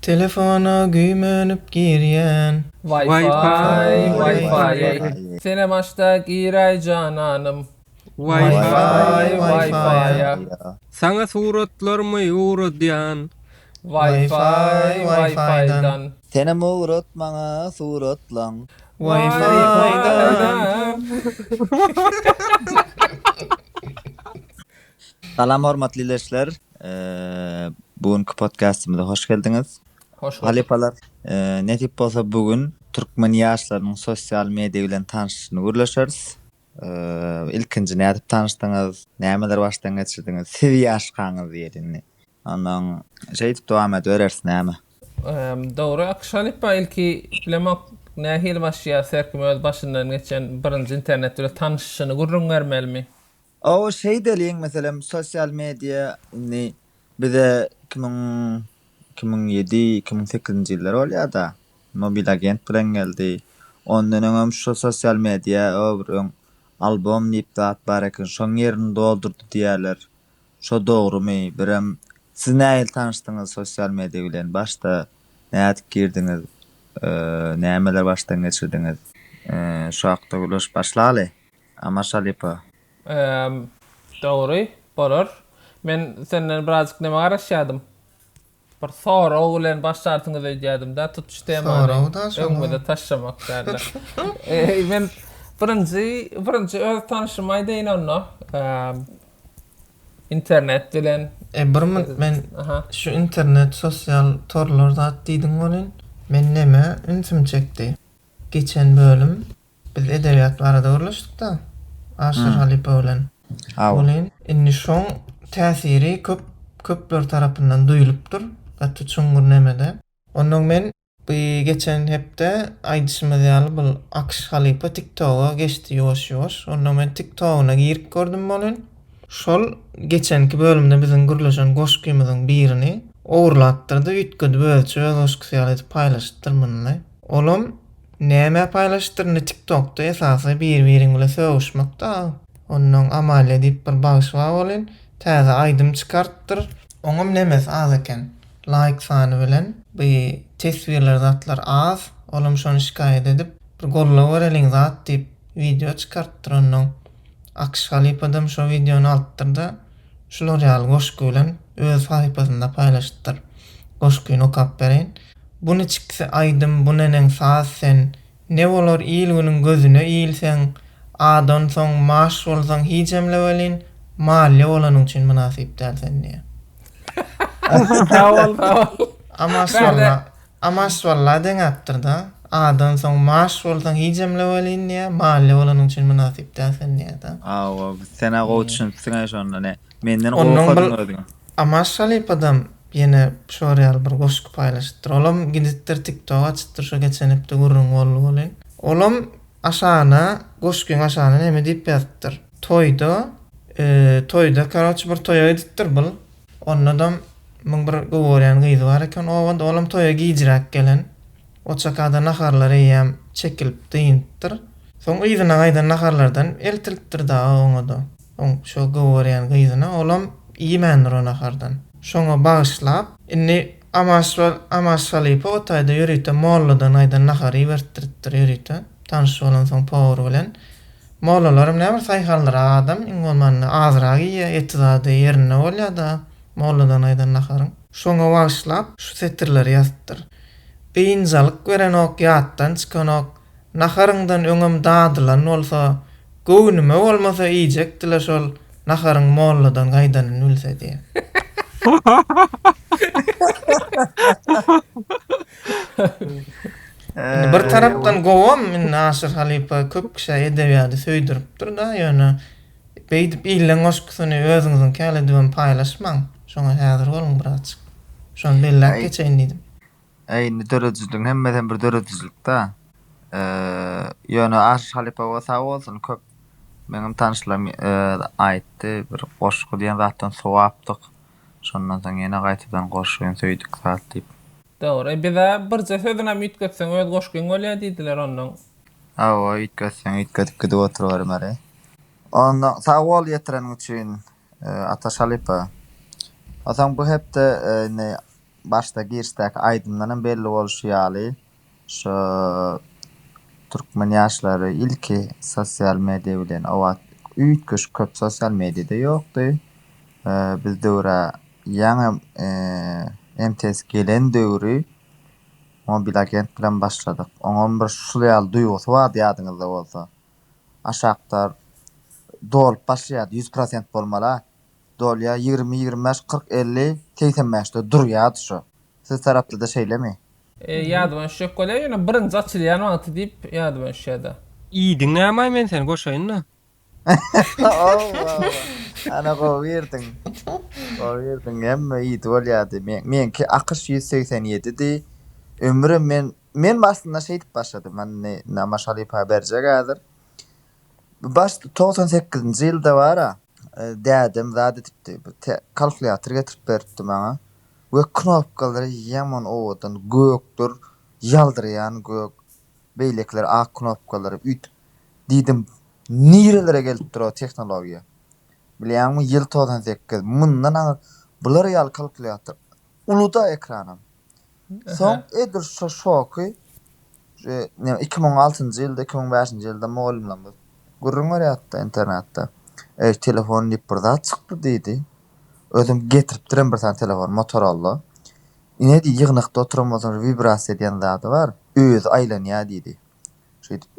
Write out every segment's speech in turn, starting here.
Telefona güýmenip girýän. Wi-Fi Wi-Fi-ä. Senem aç-da giräý jananym. Wi-Fi Wi-Fi-ä. Saňa suratlarmy ugradýan. Wi-Fi Wi-Fi-dan. Senem ugrat maňa suratlaň. Wi-Fi-dan. Salam hormatly leşler. Bu günki podkastymyza hoş geldiňiz. Hoş bulduk. Halypalar, nesip bolsa bu gün türkmen ýaşlarynyň sosial media bilen tanyşyşyny gürleşeris. Ilkinji nädip tanyşdyňyz, nämeler başdan geçirdiňiz, siz ýaşkaňyz diýeli indi. Ondan şeýdip dowam edibereris näme. Dogry Akyş halypa ilki bilemok nähili başlaýarys her kim öz başyndan geçen birinji internet bilen tanyşyşyny gürrüň bermelimi? Awa şeýdeliň meselem sosial media indi bize iki müň iki müň ýedi iki müň sekizinji ýyllar bolýada mobil agent bilen geldi ondan öňem şu sosial media bir öň albom diýip zat bar eken şoň ýerini doldurdy diýýärler şo dogrymy birem siz nähili tanyşdyňyz sosial media bilen başda nädip girdiňiz nämeler başdan geçirdiňiz şo hakda gürleşip başlalyý. Ama şalypa. Eee dogry bolar. Men senden birazjyk näme garaşýadym. Bir sorag bilen başlarsyňyz öýdýädim-dä tutuş temany öňümize taşlamak dälde. Eee men birinji birinji öz tanyşymy aýdaýyn onda. Internet bilen. Eee bir minut men şu internet sosial torlar zat diýdiň welin men neme ünsüm çekdi. Geçen bölüm Biz edebiýat barada gürleşdik-de Aşyr halypa bilen. Welin, indi şoň täsiri köp, köpler tarapyndan duýulypdyr, gaty çuňňur nemede. Onnoň men bu geçen hepde aýdyşymyz ýaly bul Akyş halypa TikToga geçdi ýuwaş-ýuwaş. Onnoň men TikTogyna girip gördüm welin, şol geçenki bölümde biziň gürleşen goşgymyzyň birini ogurlapdyrdy, üýtgedip özüçe öz goşgysy ýaly edip paýlaşypdyr munyny. Olam Näme paýlaşypdyr indi tiktokda esasy bir biriň bilen sögüşmekda a onnoň Amalia diýip bir bagşy bar welin täze aýdym çykartdyr. Oňam nemesi az eken laýk sany bilen bu teswirler zatlar az olam şony şikaýat edip bir gollawereliň zat diýip wideo çykartdyr onnoň Akş halypadam şo wideony alypdyrda şular ýaly goşgy bilen öz sahypasynda paýlaşypdyr goşgyny okap bereýin. Bu niçiksi aýdym bu neneň saz sen ne bolar il-günüň gözüne ilseň adan soň maş bolsaň higemle welin malýa bolanyň üçin mynasyp däl sen diýýä. Sawol sawol. Amaş walla Amaş walla deňäpdir da adan soň maş bolsaň higemle welin diýýä malýa bolanyň üçin mynasyp däl sen diýýä da. Hawa biz senä gowy düşünipsiň-ä şonda ne. Menden Ondan bir gorkadyň özüňe. Amaz Şalipadam ýene şor ýaly bir goşgy paýlaşypdyr. Olam gidipdir TikTok açypdyr şu geçen hepde gürrüň boldy welin. Olam aşagyna goşgyň aşagyna neme diýip ýazypdyr. Toýda toýda karoçe bir toýa gidipdir bul. Ondadam muň bir goworýan gyzy bar eken obada olam toýa gijräk gelen. Oçakada naharlar eýýäm çekilip dynypdyr. Soň yzyna gaýdan naharlardan eltilipdir dagy oňada. Oň şo gowarýan gyzyna olam iýmändir o nahardan. Şoňa bagyşlap, indi Amaşwal Amaşwalypa o taýda ýörite molladan aýdan nahary ibertdiripdir ýörite, tanyş bolansoň powar bilen. Mollalaram näbir saýhaldyrak adam, iň bolmanda azrak iýýär, eti zady ýerinde bolýar-da molladan aýdan naharyň. Şoňa bagyşlap şu setirleri ýazypdyr. Biynjalyk berenok, ýatdan çykanok, Naharyňdan öňem dadylan bolsa, göwnüme bolmasa iýjekdi-le şol naharyň molladan gaýdanyny bilse diýýär. Indi bir tarapdan gowam, indi Aşyr halypa köp kişä edebiýady söýdüripdir-da, ýöne beýdip illeň goşgusyny özüňiziňkäl edibem paýlaşmaň. Şoňa häzir boluň birazjyk. Şony belläp geçeýin diýdim. Eý, indi döredijiligiň hemmesem bir döredijilikdä. Eee, ýöne Aşyr halypaoa sag bolsun, köp meňem tanyşlarym aýtdy, bir goşgy diýen zatdan sowapdyk. Şondan soň ýene gaýtadan goşgy söýdük zat diýip. Dogry, biz-ä birje sözünem üýtgetseň öz goşgyň bolýar diýdiler onnoň. Hawa, üýtgetseň üýtgedip gidip oturybermeli. Onda sag bol ýetireniň üçin Ataş halypa. Onsoň bu hepde indi Başda girişdäki aýdymdan hem belli bolşy ýaly, şu türkmen ýaşlary ilki sosial media bilen owaat üýtgeşik köp sosial mediada ýokdy. Biz döwre ýaňy MTS gelen döwri Mobil agent bilen başladyk. Oňam bir şul ýaly duýgusy bardy ýadyňyzda bolsa. Aşakda dolup başlaýardy, ýüz prosent bolmala, dolýar ýigrimi ýigrimi bäş kyrk elli segsen bäşde durýardy şu siz tarapdada şeýlemi. Ýadyma düşjek bolýar ýöne birinji açylýan wagty diýip ýadyma düşýärda. I diňlämaý men seni goşaýynda. Owawa ana gowy girdiň gowy girdiň hemme ýiti bolýardy men meňki akyş ýüz segsen ýedidi ömrüm men men aslynda şeýdip başladym hany namazşalypa berjek häzir. Bu baş togsan sekizinji ýylda bar-a, dädem zat edipdi, bir kalkulýator getirip beripdi maňa we knopkalary ýaman owadan, gökdür, ýaldyraýan gök, beýlekiler ak knopkalary üýtüp, diýdim, nirelere gelip dur-ow tehnologiýa. Bilýäňmi, ýyl togsan sekiz, mundan aňyr bular ýaly kalkulýator, uly-da ekranam. Soň edil şo şoky Iki müň altynjy ýylda, iki müň bäşinji ýylda mugallymlarymyz gürrüň berýärdi-de internatda. Eý, telefon diýip bir zat çykdy diýdi. Özüm getiripdirem bir sany telefon, Motorola. Ine diý, ýygnakda oturan bolsaň, wibrasiýa diýen zady bar, özi aýlanýar diýdi. Şeýdip,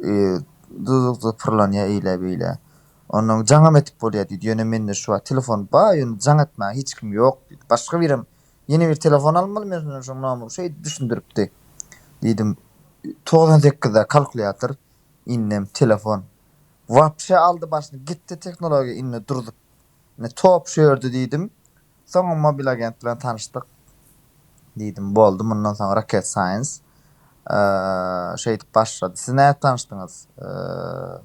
dyzykda pyrlanýar eýle-beýle. Ondan jaňam edip bolýar diýdi. Ýöne mende şu wagt telefon bar, ýöne jaň etmäge hiç kim ýok diýdi. Başga birem Ýene bir telefon almaly men senden şoň nomer şeýdip düşündiripdi diýdim. Togsan sekizde kalkulýator indem telefon. Wapşe aldy başyny gitdi tehnologiýa indi durzup. Indi top şu ýerde diýdim. Soňam mobil agent bilen tanyşdyk diýdim. Boldy mundan soň Rocket Science şeýdip başlady. Siz nädip tanyşdyňyz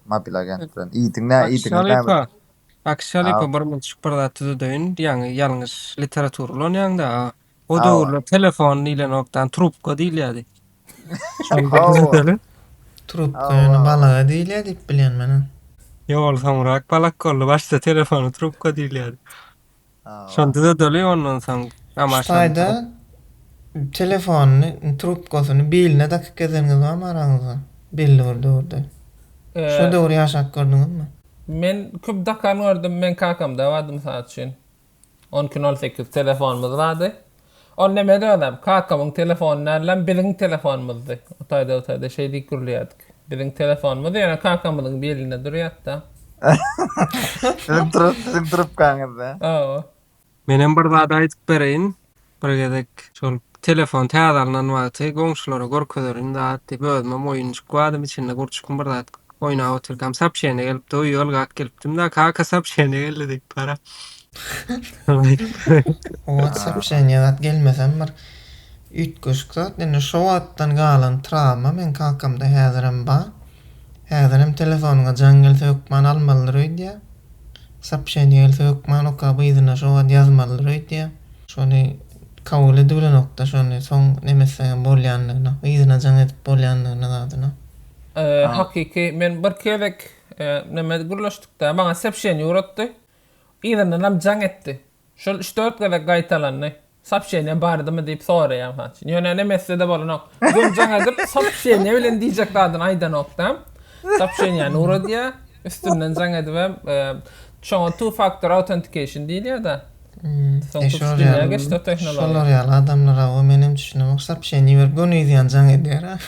mobil agent bilen? Iýdiň nä iýdiňiz näme? Ak şalypa Ag. birmunçuk bir zat düzedeýin diýýäňi ýalňyş literatura ulanýaňda aga. O Hawa. döwürler telefon diýlenokdan trubka diýilýädi. Şony bir Hawa. düzedeliň. Trubka Hawa, ýöne hawa. balaga diýilýär diýip bilýän men-ä. Ýol soňrak balak boldy. Başda telefona trubka diýilýärdi. Şony düzedeli ondan soň amaşany. Ştaýda telefonyny trubkasyny biline dakyp gezeniňiz barmy araňyzda belli bir döwürde? Şo döwür ýaşap gördüňizmi? Men köp dakan gördüm men kakamda bardy mysal üçin on iki nol sekiz telefonymyz bardy. Ol nemedir özem? Kakawyň telefony dälläm, biziň telefonymyzdy. O taýda-bu taýda şeý diýip gürleýärdik. Biziň telefonymyz ýöne kakamyzyň belinde durýardy-da. Siziň trup, siziň trupkaňyzda. Hawa. Menem bir zat aýdyp bereýin. Bir gezek şol telefon täze alnan wagty goňşulara görkezerin zat diýip özümem oýunjyk badym içinde gurçukmy bir zat oýnap otyrkam sapşeniýa gelipdi, uýalgak gelipdim-da, kaka sapşeniýa geldi diýip bara. Oňa soobşeniýa zat gelmesem bir üýtgeşik zat. Indi şo wagtdan galan trawma meň kakamda häzirem bar. Häzirem telefonyňa jaň gelse hökman almalydyr öýdýär. Soobşeniýa gelse hökman okap yzyna şo wagt ýazmalydyr öýdýär. Şony kabul edibilenokda şony soň nemetsegem bolýandygyna, yzyna jaň edip bolýandygyna zadyna. Hakyky men bir gezek neme gürleşdikde maňa soobşeniýa ugratdy. Yzyndanam jaň etdi. Şol üç-dört gezek gaýtalandy. Sopşeniýa bardymy diýip soraýan haçan. Ýöne enem etse-de bolanok. Özem jaň edip, sopşeniýa bilen diýjek zadyny aýdanok-da. Sopşeniýany ugradýar. Üstünden jaň edibem, şoňa two factor authentication diýilýär-de. Soň tutuş dünýä geçdi o tehnologiýa. Şolar ýaly adamlara-ow menem düşünemok. Sopşeniýa berip göni ýüzýän jaň edýär-ä.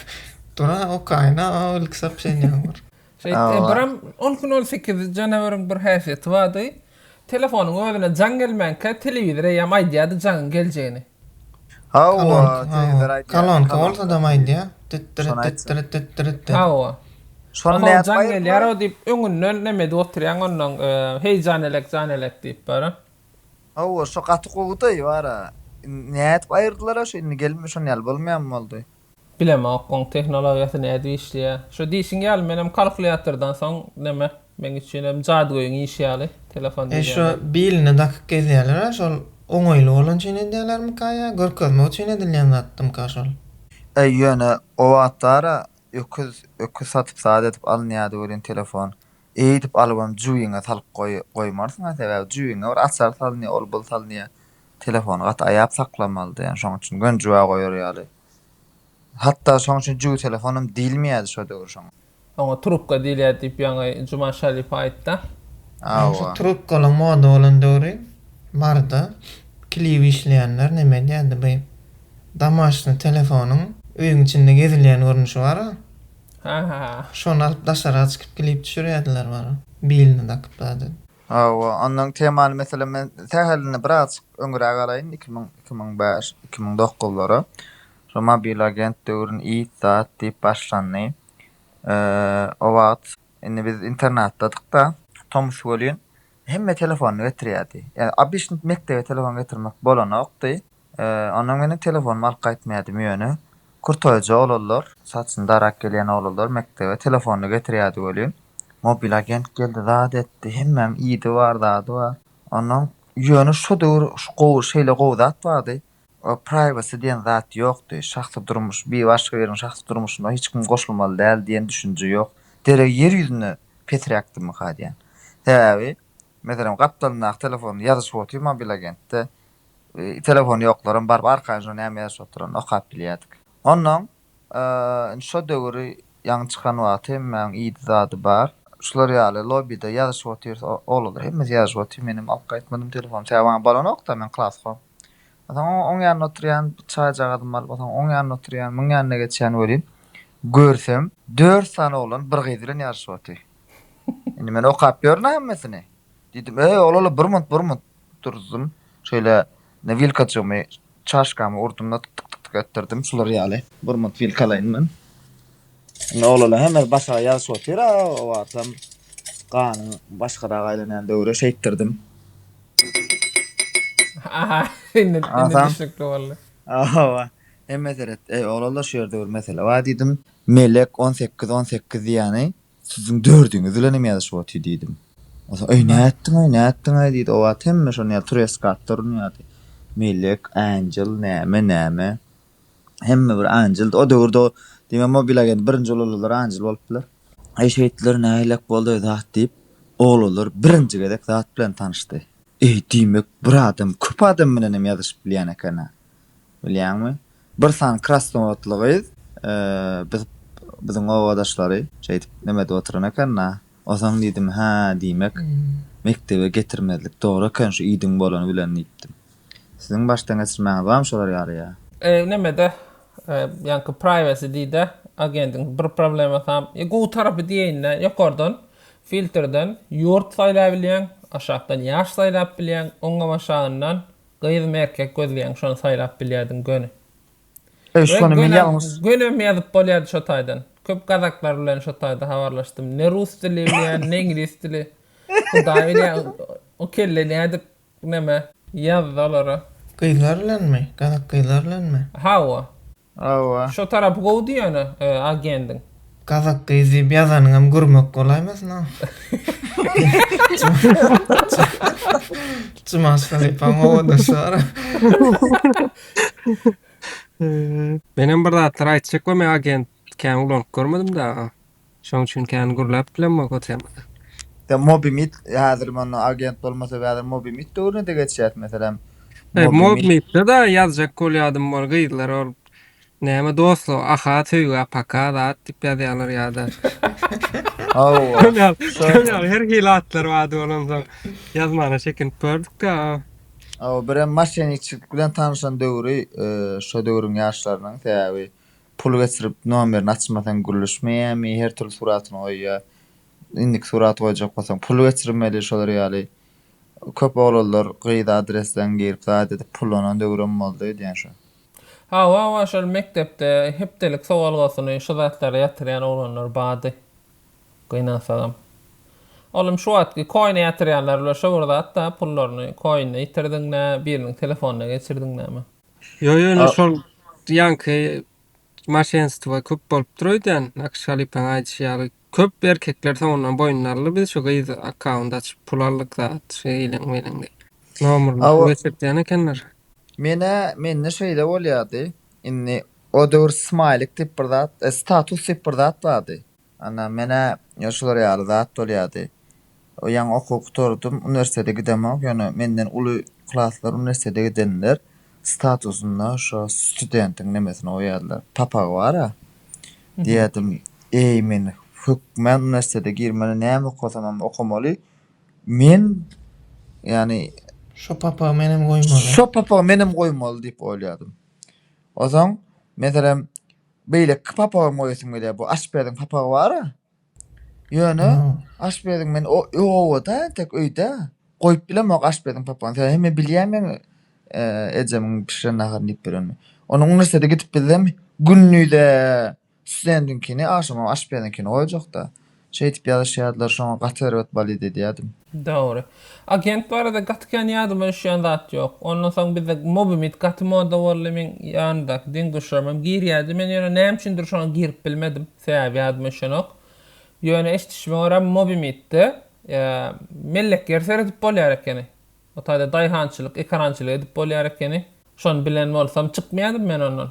Dur-a okaýyn-a o ilki sopşeniýaňy bir. Şeýtdi. Biram on gün ol sekiz janaweriň bir häsiýeti bardy. Telefonyň özüne jaň gelmänkä telewizor eýýäm aýdýardy jaňyň geljegini. Hawa, telewizor aýdýardy. Kolonka bolsadam aýdýar. Dit-dirit, dit-dirit, dit-dirit diýip. Hawa. Şony nädip aýyrdylar? Jaň gelýär-ow diýip öňünden näme edip oturýaň onnoň heý janelek, janelek diýip bara. Hawa, şo gaty gowydy bara. Nädip aýyrdylar-a şo indi gelme şon ýaly bolmaýanmy boldy? Bilemok oň tehnologiýasy nädip işleýä. Şo diýşiň ýaly menem kalkulýatordan soň neme meň üçin hem jadygöýüň işi ýaly telefon diýýän zat. Şo biline dakyp gezýälerä şol oňaýly bolan üçin edýälermika ýa görkezmek üçin edilýän zatdymyka şol. Äý ýöne o wagtlara öküz öküz satyp zat edip alynýady welin telefon Eýdip alybam jübiňe salyp goýmarsyň-a, sebäbi jübiňe bir açar salynýa, ol-bul salynýa. Telefony gaty aýap saklamalydy, ýagny şonuň üçin göni jübä goýar ýaly. Hatda şonuň üçin jübi telefonam diýilmeýärdi şo döwür şoňa. Oňa trubka diýilýärdi diýip ýaňy Juman Şalyýew aýtdy-a. Hawa. Şu trubkalaryň moda bolan döwri bardy. Klip işleýänler näme edýärdi, bu damaşny telefonyň öýüň içinde gezilýän görnüşi bar-a, Haha. Şony alyp daşaryga çykyp klip düşürýärdiler bary. Bilini dakyp zady. Hawa, ondan temany meselem men sähelini bir azjyk öňüräk alaýyn, iki müň, iki müň bäş, iki müň dokuzlara. Şo mobil agent döwrün it zat diýip başlandy. O wagt indi biz internatdadyk-da. Tomus welin hemme telefonyny getirýärdi. Ýa obişnik mekdebe telefon getirmek bolanokdy. Onda meniň telefonym alyp gaýtmaýardym ýöne kurtoýja oglanlar, saçyny darak gelýän oglanlar mekdebe telefonyny getirýärdi welin, mobil agent geldi zat etdi, hemmäň idi bar zady bar. Ondan ýöne şu döwür şu gowy şeýle gowy zat bardy, privacy diýen zat ýokdy, şahsy durmuş bir başga biriň şahsy durmuşyna hiç kim goşulmaly däl diýen düşünje ýok. Derek ýer ýüzünde pesräkdimika diýýän. Sebäbi meselem gapdalyndaky telefonda ýazyşyp otyr mobil agentde, Telefony ýoklaram baryp arkaýynja näme ýazyşyp oturanyny okap bilýärdik. Onnoň indi şo döwüri ýaňy çykan wagty hemmäň iýdi zady bar. Şular ýaly lobbyda ýazyşyp otyrys oglanlar hemmesi ýazyşyp otyr menem alyp gaýtmadym telefony sebäbi maňa bolonokda men klaskom. Onsoň oň ýanynda otyrýan bir çaýjagazymy alyp onsoň oň ýanyna otyrýan muň ýanyna geçýän welin görsem dört sany oglan bir gyz bilen ýazyşyp otyr. Indi men okap ýörün-ä hemmesini. Diýdim öý oglanlar bir munt bir munt durdum. Şeýle ne wilkajygymy, çaşkamy urdum-da tyk-tyk-tyk-tyk etdirdim. Şular ýaly gurmat wilkalaýyn men. Indi oglala hemmesi başga ýazyşyp otyr-a, owarsam ganyň başgarak aýlanýan döwri şeýtdirdim. Aha, indi düşnükli boldy. Hawa, hemme seret. Eý, oglala şu ýerde bir mesele bar diýdim. Melek on sekiz, on sekiz diýýäni, Siziň dördüňiz bilenem ýazyşyp otyr diýdim. O da, Eý, nätdiň-aý, nätdiň-aý diýdi. O wagt hemme şony ýa Treskatda urunýardy. Melek, Anjel, näme, näme. Hemme bir Anjeldi. O döwürde o, diýme, mobil agent birinji bolalalar Anjel bolup biler. Eý, şeýtdiler, nähilek boldy-aý zat diýip, oglanlar birinji gezek zat bilen tanyşdy. Eý, diýmek, bir adam köp adam bilenem ýazyşyp bilýän eken-ä. Bilýäňmi? Bir sany krasnowodly gyz biz biziň obadaşlary şeýdip neme edip oturan eken-la. Onsoň diýdim, Hä, diýmek, mekdebe getirmezlik dogry eken şu iýdigiň bolany bilen diýipdim. Siziň başdan geçirmäňiz barmy şolar ýaly-a? Neme-de, ýaňky privacy diýdi-ä agendiň bir problemasam. E, gowy tarapy diýeýin-dä, ýokardan filtrden ýurt saýlaýbilýäň, aşakdan ýaş saýlap bilýäň, oňňam-aşagyndan Gyzmy erkek gözleýäň şony saýlap bilýärdiň göni. Eý şony men ýalňyş. Gönem ýazyp bolýardy şo taýdan. Köp gazaklar bilen şo taýda habarlaşdym. Ne rus dili bilýän, ne iňlis dili. Hudaý bilýä o kelle nädip neme ýazdy olara. Gyzlar bilenmi? Gazak gyzlar bilenmi? Hawa. Hawa. Şo tarapy gowy diýýäne agendiň. Gazak gyz diýip ýazanyňam gurmak bolaýmasyn a? Jumaş halypaň owadançy bar a. Menem bir zatlar aýtjak we men agent kän ulanyp görmedim daga. Şoň üçin kän gürläp bilemok otyamyza. Ýa Mobimit häzir mundan agent bolmasa bäder Mobimit döwrüne-de geçýäs meselem. Eý Mobimit-de-da ýazjak bolýadym ol gyzlar ol näme dostluk aha söýgä paka zat diýip ýazýalar ýa-da. Hawa. Şol ýaly şol ýaly her hili atlar bardy ol onsoň ýazmana çekinip gördük-de. Hawa birem maşenikçilik bilen tanyşan döwri şo döwrüň ýaşlarynyň sebäbi Pul geçirip nomerini açmasaň gürleşmeýärmi, her türli suratyny goýýar. Indiki suraty goýjak bolsaň pul geçirmeli şolar ýaly. Köp oglanlar gyza adresden girip zat edip pullanan döwrem boldy öýdýän şu. Hawa hawa şol mekdepde hepdelik sowalgasyny şu zatlara ýatyrýan oglanlar bady. Gynansagam. Oglum şu wagtky koine ýatyrýanlar bilen şo bir zatda pullaryny koinde ýitirdiňmi biriniň telefonyna geçirdiňmi. Ýo ýo indi A- şol ýaňky maşenstwa köp bolupdyr öýdýän Akyş halypaň aýdyşy ýaly köp erkekler soňundan boýnuna aldy biz şu gyz akkaunt açyp pul aldyk zat şu iliň miliň diýip. Nomuryny pul Awa. geçirtýän ekenler. Menä mende şeýle bolýardy. Indi o döwür smaýlik diýip bir zat, e, status diýip bir zat bardy. Ana, men-ä ýa şular ýaly zat bolýardy. O ýaňy okuwy gutardym, uniwersitete gidemok, ýöne menden uly klaslar uniwersitete gidenler statusynda şo studentiň nemesini goýýarlar, papagy bar-a. Diýerdim, Eý, men hökmän uniwersitete girmeli, näme okasamam okamaly. Men, ýagny. Şo papagy menem goýmaly. Şo papagy menem goýmaly diýip oýlýardym. Ozaň, meselem. Beýleki papagymy goýasym gelýär. Bu aşpeziň papagy bar-a. Ýöne aşpeziň men o oba-da entek öýde goýup bilemok aşpeziň papagyny. Sebäbi men bilýän meň ejemiň bişiren naharyny iýip ýörenimi. Onuň uniwersitete gidip bizem gündize studentiňkini, agşamam aşpeziňkini goýjak-da. Şeýdip ýazyşýardylar şoňa gaty erbet balyt edýädim. Dogry. Agent barada gaty kän ýadyma düşýän zat ýok. Ondan soň bizde Mobimit gaty moda boldy, meň ýanymdaky deň-duşlarymam girýärdi. Men ýöne näme üçindir şoňa girip bilmedim. Sebäbi ýadyma düşenok. Ýöne eşidişime görä Mobimitde mellek ýer seredip bolýar ekeni. Otada daýhançylyk, ekerançylyk edip bolýar ekeni. Şony bilen bolsam çykmaýardym men ondan.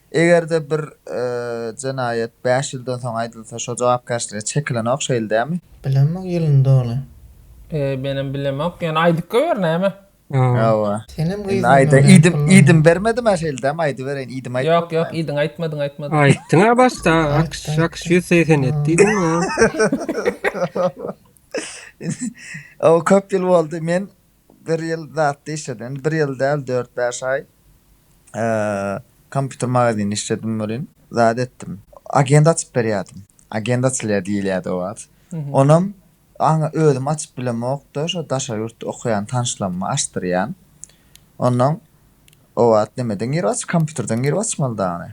Eger-de bir jenaýat bäş ýyldan soň aýdylsa, şo jogapkärçilige çekilenok, şeýle dälmi? Bilemok ýylyny doly. Menem bilemok, ýöne aýdyp goýber näme? Hawa. Senem gyz Indi aýdym idym bermedim-ä şeýle dämi aýdybereýin idym aýtmadym. Ýok ýok idiň aýtmadyň aýtmadyň. Aýtdyňa başda akş akş ýüz segsen ýedi diýdiňä. Ow köp ýyl boldy men Bir ýyl zatda işledim. Bir ýyl däl, dört-bäş aý kompýuter magazynda işledim welin, zat etdim. Agent açyp berýärdim. Agent açylýar diýilýärdi o wagt. Onam aňa özüm açyp bilemok-da, şo daşary ýurtda okaýan tanyşlaryma açdyrýan. Ondan o wagt nemeden girip aç, kompýuterden girip açmalydy ony.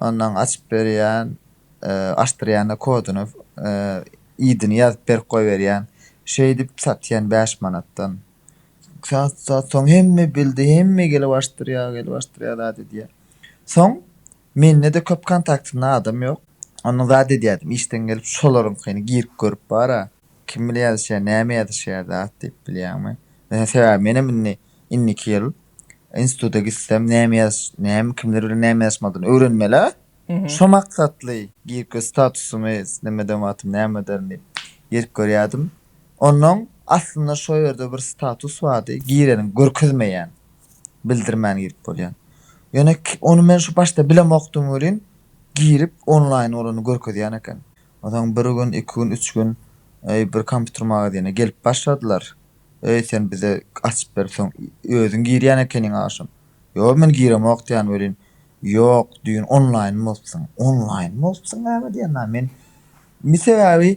Ondan açyp berýän. açdyrýanda kodyny idini ýazyp berip goýberýän şeýdip satýan bäş manatdan sat sat soň hemme bildi hemme gelip açdyrýa gelip açdyrýa zat edýä soň mendede köp kontaktymda adam ýok ondan zat edýädim işden gelip şolaryňkyny girip görüp bara kim bilen ýazyşýa näme ýazyşýa zat diýip bilýäňmi ýöne sebäbi menem indi indiki ýyl instituta gitsem näme ýazyş näme kimler bilen näme ýazyşmalydyny öwrenmelä Şo maksatly giriş statusymy islemedem atym näme ederin diýip girip görýädim. Onnoň aslynda şo ýerde bir status bardy, gireniň görkezmeýän, bildirmän girip bolýan. Ýöne ony men şu başda bilemokdym welin girip onlaýn bolany görkezýän eken. Onsoň bir gün, iki gün, üç gün öý bir kompýuter magazyna gelip başladylar. Öý sen bize açyp ber soň özüň girýän ekeniň agşam. Ýok men giremok diýýän welin Ýok, düýn onlaýn bolupsyň. Onlaýn bolupsyň näme diýýän dagy men. Indi sebäbi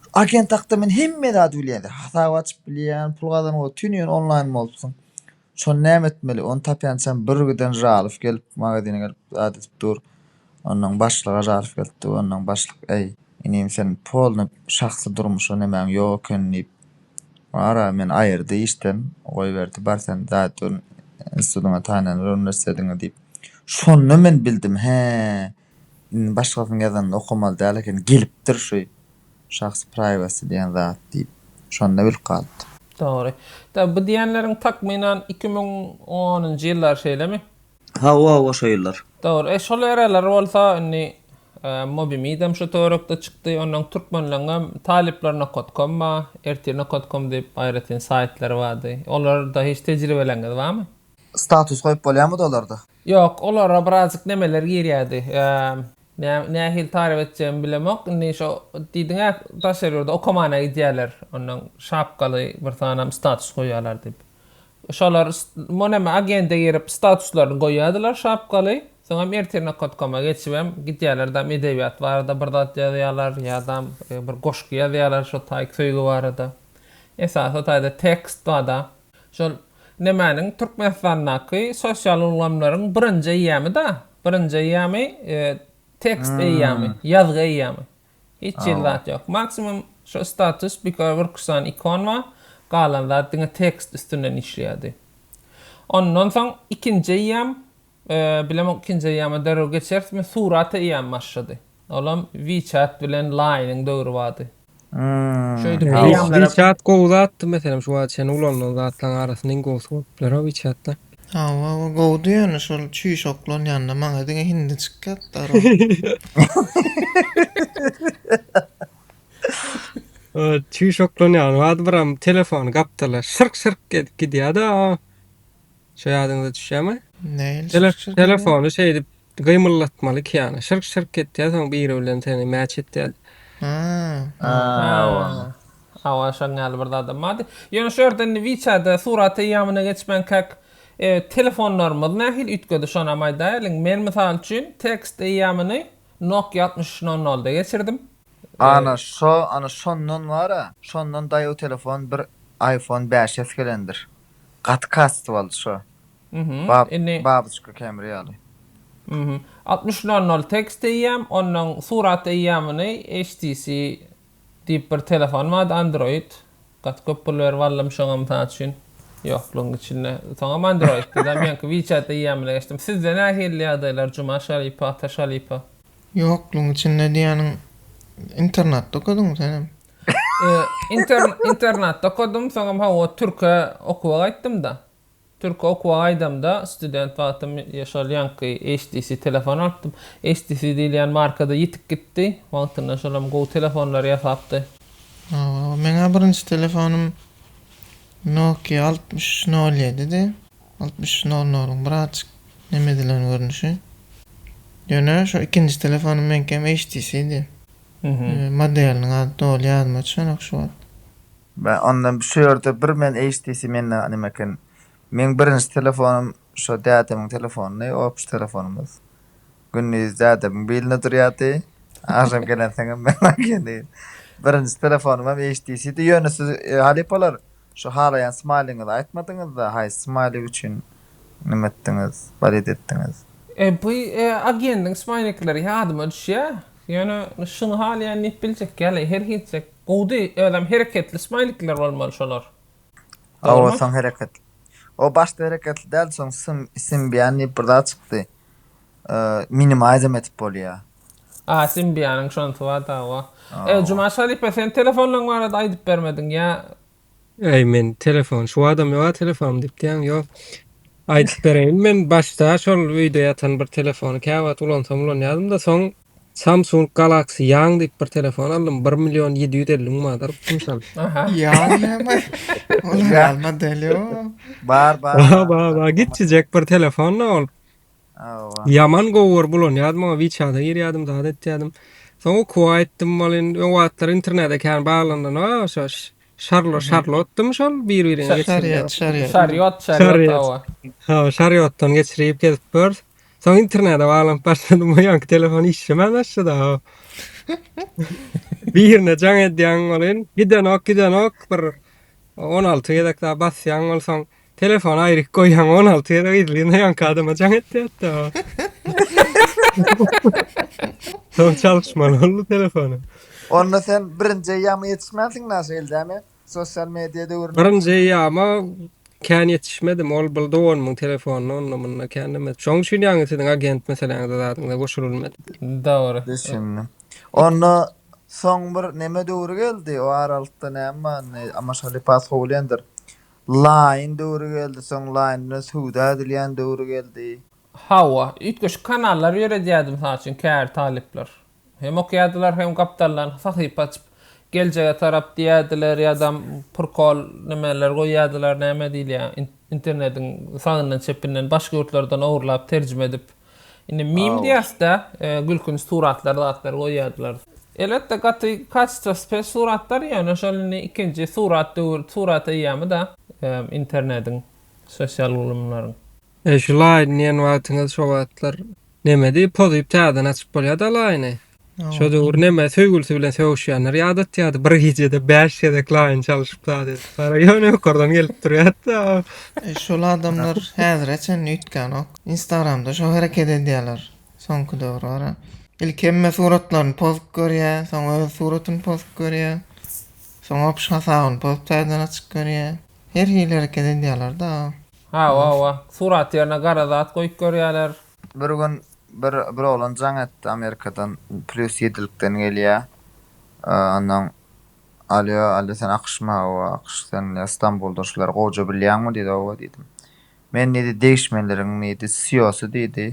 şu agent hakda men hemme zady bilýän. Hasap açyp bilýän, pul gazanyp ol tüniň onlaýn bolupsyň. Şony näme etmeli? Ony tapýançam birgiden Žalow gelip magazine gelip zat edip dur. Onnoň başlyga Žalow gelipdi. Onnoň başlyk äý, inim sen polny şahsy durmuşa nemäň ýok eken diýip. Wara, meni aýyrdy işden, goýberdi, bar sen Zaýtun institutyňa taýlandyr, uniwersitetiňe diýip. Şonda men bildim, hä, indi başgasynyň ýazanyny okamaly däl eken, gelipdir şu şahs praýwasy diýen zat diýip. Şonda bilip galypdym. Dogry. Tä bu diýenleriň takmynan iki müň onunjy ýyllary şeýlemi? Hawa hawa şo ýyllar. Dogry e şol ereler bolsa indi mobimidem şu töwerekde çykdy ondan türkmenleňem talyplar nokotkom ba ertir nokotkom diýip aýratyn saýtlary bardy olarda hiç tejribeleňiz barmy? Status goýup bolýarmydy olarda? Ýok olara birazjyk nemeler girýärdi nähili taryp etjegimi bilemok indi şo diýdiňä daşary ýurda okamana gidýärler ondan şapkaly bir sanam status goýýarlar diýip Şolar monami agende girip statuslaryny goýýardylar şapkaly, soňam ertirnokot.com-a geçibem gidýärler dam edebiýat barada bir zat ýazýarlar ýadam bir goşgy ýazýarlar şo taýk söýgi barada. Esasy taýda tekst bada. Şol nemäniň Türkmenistandaky sosial ulgamlaryň birinji eýýamy-da, birinji eýýamy tekst eýýamy, ýazgy eýýamy. Hiç hili zat ýok. Maksimum şu status bikör bir küsan ikon bar, galan zat diňe tekst üstünden işleýärdi. Ondan soň ikinji eýýam, bilemok ikinji eýýama derrew geçerismi, surat eýýam başlady. Olam WeChat bilen Line-iň döwri bardy. Şeýdip eýýamlar. WeChat gowy zatdy, meselem şu wagta çenli ulanylan zatlaryň arasynda iň gowusy bolup biler-ow WeChat-da. Hawa o gowdy ýöne şol çüýş oglan ýanynda maňa diňe hindi çykýar zdarov. O çüýş oglan ýaly bardy biram telefony gapdala şyrk şyrk edip gidýärdi a şo ýadyňyza düşýärmi? Nähili Tele- şyrk-şyrk edýär? telefony şeýdip Gymyldatmaly kýana şyrk şyrk etýä soň biri bilen seni mäç etýädi. Hawa şoň ýaly bir zadam bardy. Ýöne şu ýerde indi wiçada surat eýýamyna geçmänkäk telefonlarymyz nähili üýtgedi şonam aýdaýalyň. Men mysal üçin tekst eýýamyny Nokia altmyş üç nol nolda geçirdim. Ana şo ana şondan bara şondan daýaw telefon bir iPhone bäş s gelendir. Gaty kasty boldy şo. Babuçka Kemri ýaly. Altmyş nol nol tekst eýýäm, onnoň surat eýýamyny HTC diýip bir telefon bardy Android. Gaty köp pul berip aldym şoňa mysal üçin. Ýoklugyň içinde. Soňam Android diýdi. Meňki WeChat eýýamyna geçdim. Sizde nähili ýagdaýlar Jumaş halypa, Ataş halypa? Ýoklugyň içinde diýýäniň internatda okadyňmy senem? Internatda okadym, soňam hawa türke okuwa gaýtdym-da. Türki okuwa gaýdamda, student wagtym şol ýaňky HTC telefon alypdym. HTC diýilýän marka-da ýitip gitdi. Wagtynda şolam gowy telefonlary ýasapdy. Hawa, meň-ä birinji telefonym Nokia altmyş üç nol ýedidi. Altmyş üç nol nol-yň birazajyk neme edilen görnüşi. Ýöne şo ikinji telefonym meňkem HTC-di. Modeliniň ady doly ýadyma düşenok şu wagt. Bä onda şu ýerde bir men HTC mende name eken. Meň birinji telefonym şo dädemiň telefonydy, opçy telefonymyz. Gündiz dädemiň bilinde durýardy. Agşam gelensoňam meň ekeni. Birinji telefonymam HTC-di. Ýöne siz halypalar şu halaýan smaýlyňyzy aýtmadyňyzda, haýsy smaýlik üçin nime etdiňiz, balet etdiňiz? E bu agendiň smaýlikleri ýadyma düşýä. Ýöne şuny halaýan diýip biljek ýaly her hinsek. Gowdy özem hereketli smaýlikler bolmaly şolar. Hawa soň hereketli. O başda hereketli däldi soň Symbian diýip bir zat çykdy. Minimizem edip bolýar. A Symbianyň şonsy bar da hawa. E Jumaş halypa sen telefonlaň barada aýdyp bermediň ýa Äý men telefon şu adam ýoga telefonym diýip diýýäň ýok. Aýdyp bereýin men başda şol öýde ýatan bir telefony käwagt ulansam ulanýadymda soň Samsung Galaxy Young diýip bir telefon aldym bir million ýedi ýüz elli müň manada alypdym şony. Aha. Young näme? Ol aýal model ýok. Bar bar. Ba ba ba gitjijek bir telefon da ol. Ýaman gowy görüp ulanýardym oňa wiçada girýärdim zat etýärdim. Soň okuwa aýtdym ol indi o wagtlar internede kän baglandan a şo şarlo şarlotdymy şol bir birine geçirýän. Şaryýat şaryýat. Şaryýat şaryýat hawa. Hawa şaryýatdan geçirip gezip gör. Soň internede baglanyp başladym o ýanky telefon işlemän başlady a. Birine jaň edýäň ol in gidenok gidenok bir on alty gezek da basýaň ol soň Telefony aýryk goýýaň, on alty ýere gyzlyna ýaňky adama jaň etýär-de. Soň çalyşmaly boldy telefony. Onda sen birinji eýýama ýetişmänsiň naşa eldämi, sosial media döwrüne? Birinji eýýama kän ýetişmedim, ol bil dogan muň telefonyny onda-munda kän näme. Şoň üçin ýaňy siziň agent meseleňize zadyňyza goşulylmady. Dogry. Düşündim. Onda soň bir neme döwri geldi, o aralykda näme bar indi, amaşaly paskowulendir. Laýyn döwri geldi, soň laýyn bilen söwda edilýän döwri geldi. Hawa, üýtgeşik kanallar ýöredýärdi, mysal üçin, käbir talyplar. Hem okýardylar, hem gapdaldan sahypa açyp, geljege tarap diýýärdiler ýa-da prikol nämeler goýýardylar, näme diýilýär, internetiň sagyndan-çepinden, başga ýurtlardan ogurlap, terjime edip. Indi meme diýäsde, gülkünç suratlar zatlar goýýardylar. Elbetde gaty kacestwasy pes suratlar ýöne şol indi ikinji surat döwür surat eýýamyda internediň sosial ulumlaryň. Eý şu laýny diýen wagtyňyz şo wagtlar nemedi pozyp täzeden açyp bolýada laýny Şo döwür näme söýgülisi bilen sögüşýänler ýadatýardy. Bir gijede 5 gezek laýyn çalyşyp zady. Para ýöne ýokardan gelip durýardy. E, şol adamlar häzire çenli üýtgänok. Instagramda şo hereket edýärler. Soňky döwür bara. Ilki hemme suratlaryny pozup görýär, soň öz suratyny pozup görýär. Soň opş hasabyny pozup täzeden açyp görýär. Her hili hereket edýärler-da. Hawa, hawa. Surat ýerine gara zat goýup görýärler. Bir gün Bir bir oglan jaň etdi amerikadan plýus ýedilikden gelýä onnoň alýo alýo sen akyşmy hawa akyş sen ýa stambulda şular gowja bilýäňmi diýdi hawa diýdim men diýdi degişmeleriň diýdi siýosy diýdi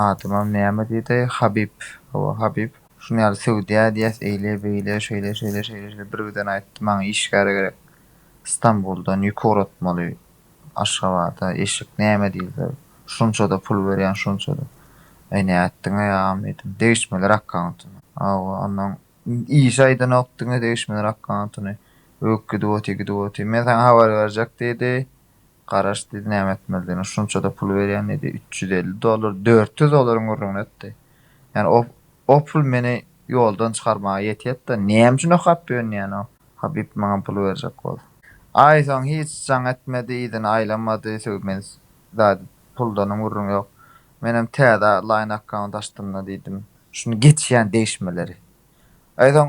adymam näme diýdi habib hawa habib şuny ýaly söwdýä diýýäs eýle beýle şeýle şeýle şeýle şeýle bir birden aýtdy maňa işgär gerek stambuldan ýük ugratmaly Aşgabada eşek näme diýilse şunçada pul berýän şunçada. Eý nätdiňeý agam diýdim. Degişmeler akkauntyna. Hawa onnoň işi aýdanok diňe degişmeler akkauntyny öýk gidip otyr gidip otyr. Men saňa habar berjek diýdi. Garaş diýdi näme etmelidigine şunçada pul berýän diýdi üç ýüz elli dollar dört ýüz dolaryň gürrüňini etdi. Ýani o Opul meni ýoldan çykarmaga ýetýetda näme üçin okap dönýäno Habib maňa pul berjek bolsa. Aý soň hiç jaň etmedi yzyny aýlamady sögmen zady puldanam gürrüň ýok. Menem täze line account açdymda diýdim şuny geçýän degişmeleri. Aý soň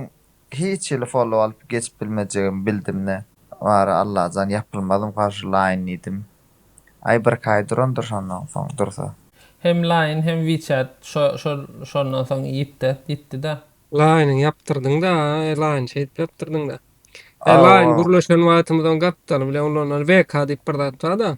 Hiç hili follow alyp geçip bilmejegimi bildimde, Bary Allajan ýapylmazym garşylaýyn diýdim. Aý birki aý durandyr şondan soň dursa. Hem Line hem WeChat şondan soň ýitdet ýitdida. Line-yňy ýapdyrdyňda Line şeýdip ýapdyrdyňda. Line gürleşen wagtymyzyň gapdaly bilen ulanylan VK diýip bir zat barda.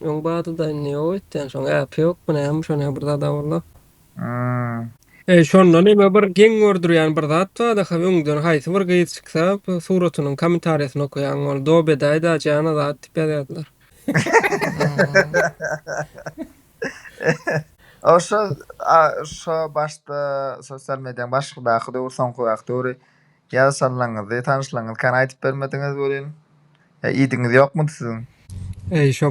Öň badyda indi ýok etýän şoň äpi ýokmy näme şo ne bir zada bolla. Aa. Eý şonda neme bir geň gördürýän bir zat bar daha öňden haýsy bir gyz çyksa suratynyň komentarýasyny okaýaň ol do bedaý da jana zat dip ýazýardylar. O şo a şo başda sosial mediýaň başydaky döwür soňky wagt döwri Ýa sallaňyzy tanyşlaňyzkän aýdyp bermediňiz welin. Ýa iýdigiňiz ýokmudy siziň? Eý şo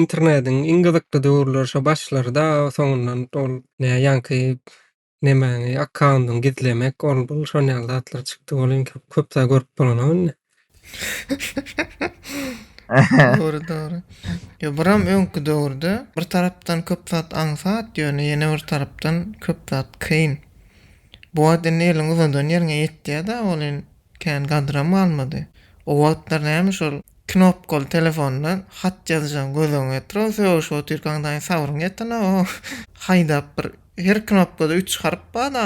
internediň iň gyzykly döwürleri şo başlaryda soňundan ol ne ýaňky nemäňi akkaundyňy gizlemek ol bul şonýaly zatlar çykdy welin köp zat görüp bolanok indi. Dogry dogry. Ýa buram öňki döwürde bir tarapdan köp zat aňsat, ýöne ýene bir tarapdan köp zat kyn. Bu wagt indi eliň uzadan ýeriňe ýetýä-da ol in kän gadram galmady. O wagtlar näme şol knopkaly telefonda hat ýazyjaň göz öňüňe getir o sögüşip otyrkaň daýy sabryň ýetenok o. Haýdap bir her knopkada üç harp bar-da.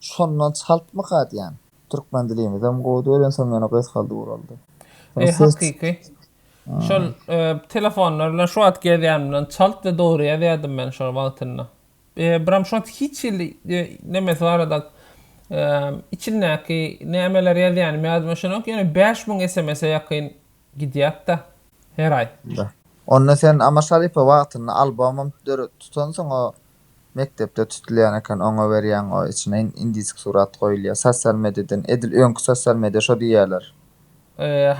Şondan çaltmyka diýän. Türkmen dilimizem gowy däl öýdýän soň ýene gysgaldy guraldy. Eý hakyky. Şol telefonlar bilen şu wagt gezýänimden çalt we dogry ýazýadym men şol wagtynda. Biram şowat hiç hili nemesi barada içindäki nämeler ýazýanymy ýadyma düşenok ýöne bäş müň sms-e ýakyn gidýätda her aý. Onda sen Amal Şaripow wagtynda albomam döredip tutansyň o Mekdepde tutulýan eken oňa berýäň o içine indisk surat goýulýa sosial mediadan edil öňki sosial media şo diýýäler.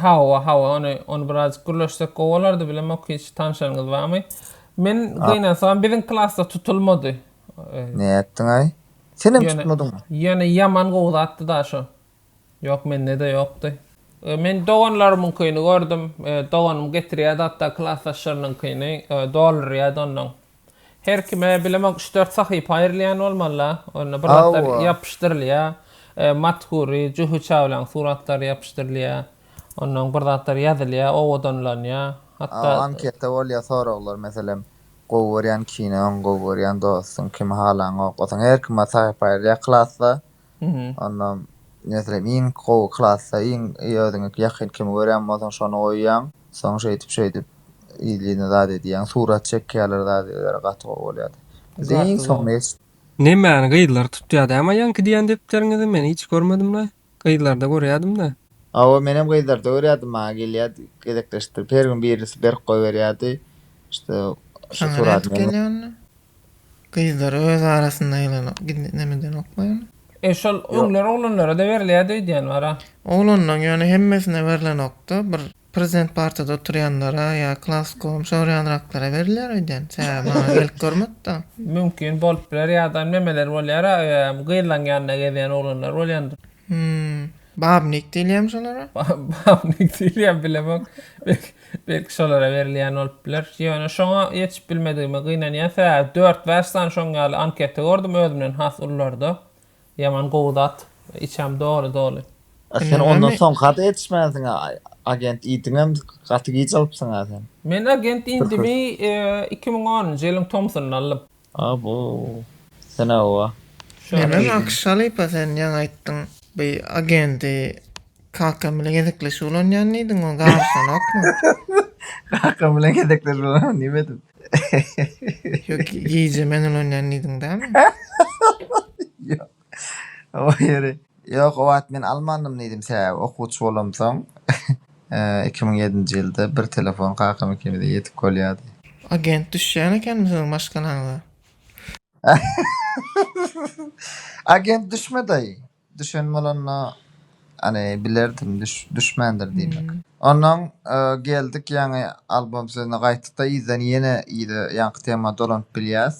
Hawa hawa ony ony birazjyk gürleşsek gowy bolardy bilemok hiç tanşaryňyz barmy men gynansagam biziň klasda tutulmady. Nätdiňaý? Senem tutmadyňmy? Ýöne ýaman gowy zatdy daşo. Ýok mendede ýokdy. Men doganlarymyňkyny gördüm. Doganym getirýärdi hatda klasdaşlarynyňkyny doldurýardy ondan. Her kime bilemok üç-dört sahypa aýrylýan bolmalyla. Onda bir zatlar ýapyşdyrylýar. Matgury, Juhy Çawlaň suratlary ýapyşdyrylýar. Ondan bir zatlar ýazylýar, owadanlanýar. Hatda. Anketa bolýar soraglar meselem gowy görýän kinoň, gowy görýän dostuň, kimi halaňok. Osaň her kime sahypa aýrylýar klasda. Onam meselem iň gowy klasda iň özüňe ýakyn kimi görýän bolsaň şony goýýaň. Soň şeýdip şeýdip yzlyna zat edýäň. Surat çekýärler zat edýärler gaty gowy bolýardy. Bizde iň soňuna ýetişdik. Nemäni gyzlar tutýar dämi aýaňky diýýän depderiňizi men hiç görmedimle. Gyzlarda görýädimdä. Hawa menem gyzlarda görýärdim maňa gelýärdi gezekleşdirip her gün birisi berip goýberýärdi. Şo suratyny. Saňa nädip gelýär onda? Gyzlar öz arasynda ýylanak gizlemeden oklaýan. E şol öňler oglanlara-da berilýärdi öýdýän bar-a. Oglanlaň ýöne hemmesine berlenokda, bir prezident partada oturýanlara ýa klas goňşy orýanraklara berilýär öýdýän. Sebäbi maňa gelip görmedi-da. Mümkin bolup biler ýadan memeler bolýar-a öýem gyzlaň ýanynda gezýän oglanlar bolýandyr. Hum. Babnik diýilýämi şolara? Babnik diýilýämi bilemok. Belki Belki şolara berilýän bolup biler. Ýöne şoňa ýetişip bilmedigime gynanýan sebäbi dört bäş sany şoň ýaly anketa gördüm özümden has ulularda. Ýaman gowy zat. Içem doly doly. A sen ondan soňkada ýetişmänsiň a agent idiňem gaty giç alypsyň a sen. Men agent idimi iki müň onunjy ýylyň tomsunda aldym. Abo. Sena oa. Menem akyş halypa sen ýaňy aýtdyň by agendi kakam bilen gezekleşip ulanýan diýdiň o garyşanokmy. Kakam bilen gezekleşip ulanýan diýmedim. Ýok gije men ulanýan diýdiň dämi. Ýok. Goý ýöri. Ýok, o wagt men almandym diýdim, sebäbi okuwçy bolamsoň, iki müň ýedinji ýylda bir telefon kakam ikimize ýetip bolýardy. Agent düşýän ekenmi siziň maşgalaňyza? Agent düşme daýy. Düşen bolanda. Any bilerdim düşmändir diýmek. Ondan geldik ýaňy albom sözüne gaýtdykda yzdan ýene yza ýaňky tema dolanyp bilýäs.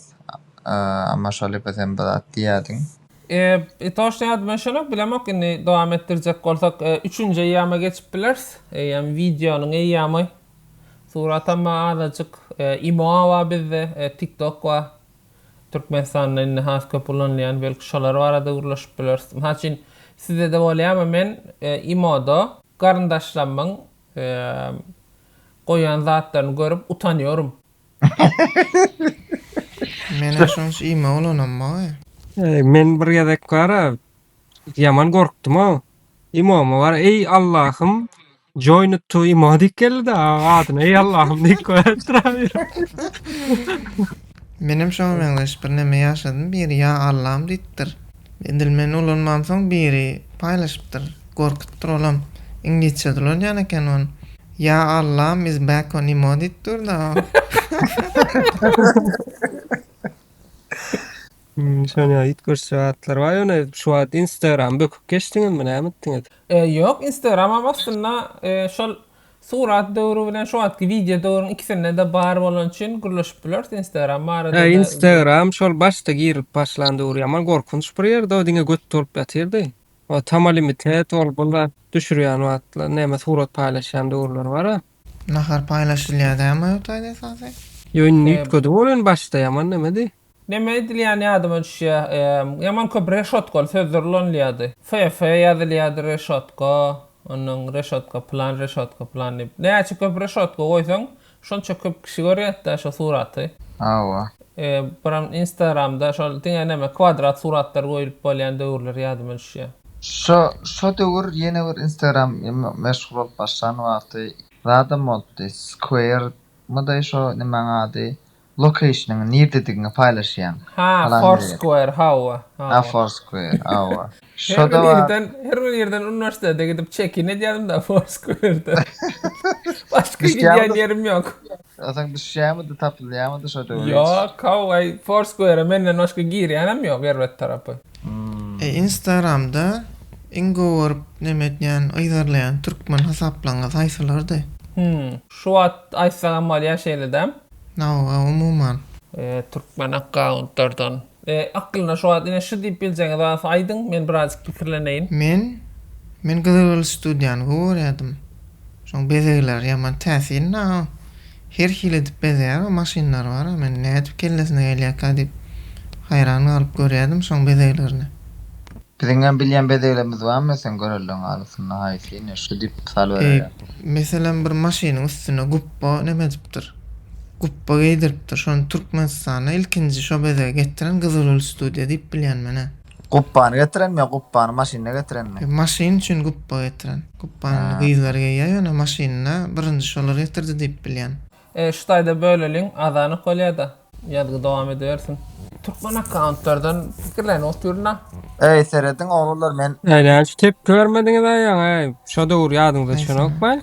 Amma şol epe sen bir zat diýýädiň. Eee toşda ýadyma şonok bilemok indi dowam etdirjek bolsak üçünji eýýama geçip bileris eýýam wideonyň eýýamy suratam bar azajyk imo bar bizde tiktok bar. Türkmenistanda indi has köp ulanylýan belki şolar barada gürleşip bileris. Mysal üçin sizede bolýamy men imoda garyndaşlamyň goýan zatlaryny görüp utanýorym. Menem şonç imo ulanam moý. Men bir gezek bara ýaman gorkdum-ow. Imomy bara eý Allahym. Join it to imo diýip geldi-de a- adyna. Ey Allahym diýip koýar trawer. Menem şoňa meňzeş bir neme ýaşadym, biri ýa Allam diýipdir. Edil men ulanmamsoň biri paýlaşypdyr, gorkutdyr olam. Iňlisçe-de ulanýan eken ony. Ýa Allam is back on imo diýip dur-da o. Sonya ýitgürç zatlar bar ýöne şu wagt instagram böküp geçdiňizmi näme etdiňiz. Ýok instagramam aslynda şol surat döwri bilen şu wagtky wideo döwrüň ikisindede bar bolan üçin gürleşip bileris instagram barada da. Instagram şol başda girip başlan döwri ýaman gorkunç bir ýerdi o diňe göt dolup ýatyrdy o tamali mitet ol bu zat düşürýän wagtlar näme surat paýlaşýan döwürler bara. Nahar paýlaşylýar dämi ýotaýda esasy. Ýo indi üýtgediň ol indi başda ýaman nemedi. Neme edilýäni ýadyma düşýä ýaman köp reşotkaly sözler ulanylýady. FF ýazylýady reşotka ondan reşotka plan reşotka plan diýip näçe köp reşotka goýsaň şonça köp kişi görýätdä şo suraty. Hawa. Buram instagramda şol diňe neme kwadrat suratlar goýulyp bolýan döwürler ýadyma düşýä. Şo şo döwür ýene bir instagram meşhur bolup başlan wagty zadam bolupdy square my daý şo nimäň ady lokeýşnyň nirdedigini paýlaşýaň. Ha Foursquare hawa hawa. Ha Foursquare hawa. Her bir ýerden, her bir ýerden uniwersitete gidip çekin edýädim-de Foursquare-de. Başga gidýän ýerim ýok. Asaň düşýärmidi, tapylýarmydy şo döwür hiç? Ýok, hawa-aý, Foursquare-a menden başga girýänem ýok erbet tarapy. Instagramda iň gowy neme etýän, yzarlaýan türkmen hasaplaryňyz haýsylardy? Hum, şu wagt aýtsagam bolýar şeýle-dä. Nawa, umuman. Türkmen akkauntlardan. Aklyna şu wagt ine şu diýip biljegiňiz barsa aýdyň, men birazjyk pikirleneýin. Men, men gyzylgül studiýany gowy görýärdim. Şoň bezegleri ýaman täsinda, her hili edip bezeýär, maşynlary bar, men nädip kellesine gelýärkä diýip haýran galyp görýärdim şoň bezeglerini. Biziňem bilýän bezeglerimiz bar meselen görelde alysynda haýsy ine şu diýip mysal bererýär. Meselem bir maşynyň üstüne gupba neme edipdir. Gupba geýdiripdir. Şony Türkmenistanda ilkinji şo bezegi getiren Gyzylgül studiýa diýip bilýän menä. Gupbany getirenmi ýa gupbany maşynda getirenmi? Ýok maşyn üçin gupba getiren. Gupbany indi gyzlar geýýär ýöne maşynda birinji şolar getirdi diýip bilýän. E şu taýda böleliň azanyk bolýada ýazgy dowam edibersin. Türkmen akkauntlardan pikirlenip otyrynda. Eý serediň oglanlar men. Nädäl şu tepki bermediňiz aý ýaňy eý şo döwür ýadyňyza düşenokmy.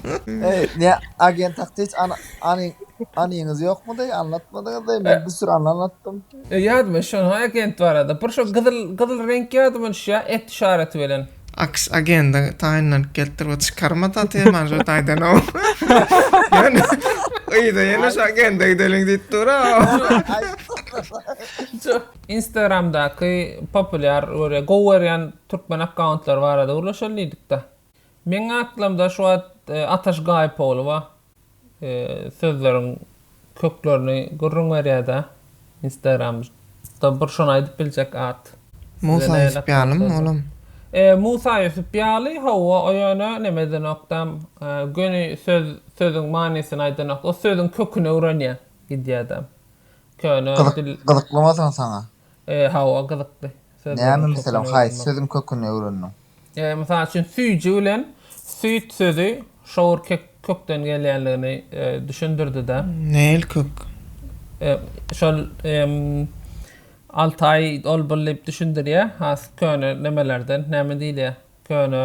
Eý, ne agent hakda hiç an, any, anyňyz ýokmudy? Anlatmadyňyz-da, men bir sürü anla anlatdym. E, Ýadyma şo agent barada bir şo gyzyl gyzyl reňk ýadyma düşýär et işareti bilen. Aks agende taýynlanyp gelipdir bu çykarma taty manžur taýdanow. Ýöne yza ýene şu agende gideliň diýip dur-a. Şu Instagramdaky populýar görýän, gowy görýän türkmen akkauntlary barada gürleşeli diýdik-de. Meň aklymda şu wagt Ataş Gaýypogulowa sözleriň köklerini gürrüň berýäda instagram da bir şony aýdyp biljek at. Musa Ýusup ýalymy olam? Musa Ýusup ýaly howwa o ýöne neme edenokda göni söz sözüň manysyny aýdanok o sözüň köküni öwrenýä gidýäda köne dil. Gyzyklymy soň saňa? Hawwa gyzykly. Näme meselem haýsy sözüň köküni öwrendiň? Mysal üçin, süýji bilen süýt sözi şowur kökden gelýändigini düşündirdi-de. Nähili kök? Şol Altaý ol bul diýip düşündirýär, has köne nemelerden, näme diýilýär, köne